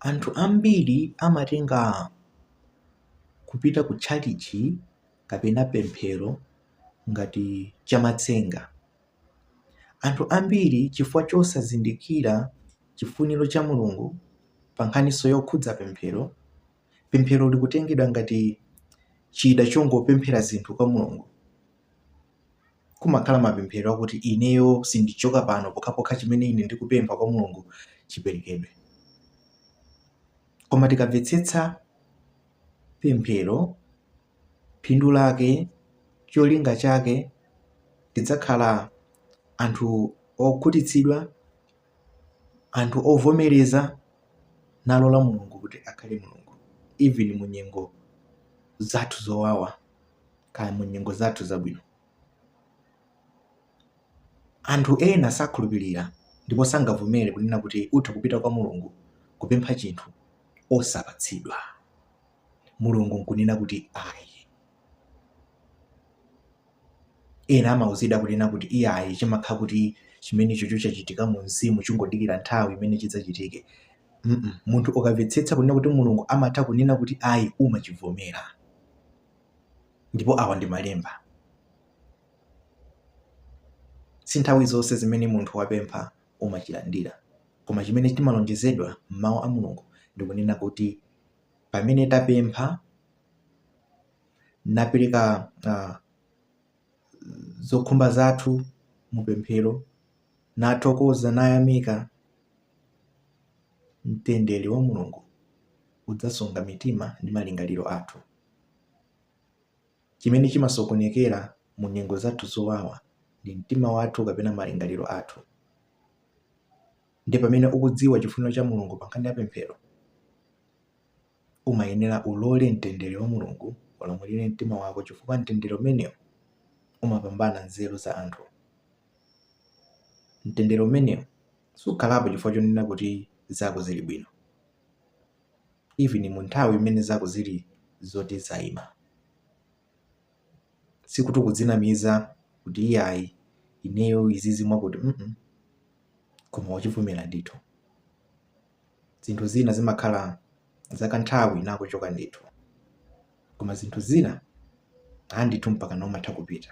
Anthu ambiri amatenga kupita ku tchalitchi kapena pemphero ngati chamatsenga. Anthu ambiri chifukwa chosazindikira chifuniro cha Mulungu pa nkhaninso yokhudza pemphero, pemphero likutengedwa ngati chida chongopemphera zinthu kwa Mulungu Kumakhala mapemphero akuti, Ineyo sindichoka pano pokhapokha chimene ine ndikupempha kwa Mulungu chiperekedwe. Koma tikamvetsetsa pemphero, phindu lake, cholinga chake, tidzakhala anthu okhutitsidwa, anthu ovomereza nalola Mulungu kuti akhale Mulungu even mu nyengo zathu zowawa. kaya mu nyengo zathu zabwino. Anthu ena sakhulupirira ndipo sangavomere kunena kuti utha kupita kwa Mulungu kupempha chinthu osapatsidwa, Mulungu nkunena kuti ayi. Ena amauzidwa kunena kuti iyayi chimakhala kuti chimenechocho chachitika mu mzimu chingodikira nthawi imene chidzachitike. Mm -mm. Munthu ukamvetsetsa kunena kuti Mulungu amatha kunena kuti ayi umachivomera. Ndipo awa ndi Malemba. Si nthawi zonse zimene munthu wapempha umachilandira. Koma chimene timalonjezedwa m'Mawu a Mulungu ndi kunena kuti pamene tapempha napereka ah, zokhumba zathu mu pemphero, nathokoza, nayamika, Mtendere wa Mulungu udzasunga mitima ndi malingaliro athu. Chimene chimasokonekera mu nyengo zathu zowawa ndi mtima wathu kapena malingaliro athu. Ndiye pamene ukudziwa chifuniro cha Mulungu pa nkhani ya pemphero, umayenera ulole mtendere wa Mulungu ulamulire mtima wako chifukwa mtendere umenewo umapambana nzeru za anthu. Mtendere umenewo Sukhalapo chifukwa chonena kuti zako zili bwino even mu nthawi imene zako zili zoti zaima. Sikuti ukudzinamiza kuti iyayi ineyo izizi mwakuti mm koma wachivomera ndithu. Zinthu zina zimakhala zakanthawi nakuchoka ndithu. Koma zinthu zina ayi ndithu mpakana umatha kupita.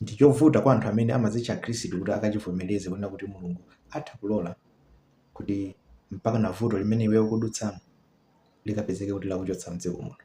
Ndi chovuta kwa anthu amene amadzitcha Akhristu kuti akachivomereze kunena kuti Mulungu atha kulola kuti mpakana vuto limene iweyo ukudutsamo likapezeke kuti lakuchotsa m'dziko muno.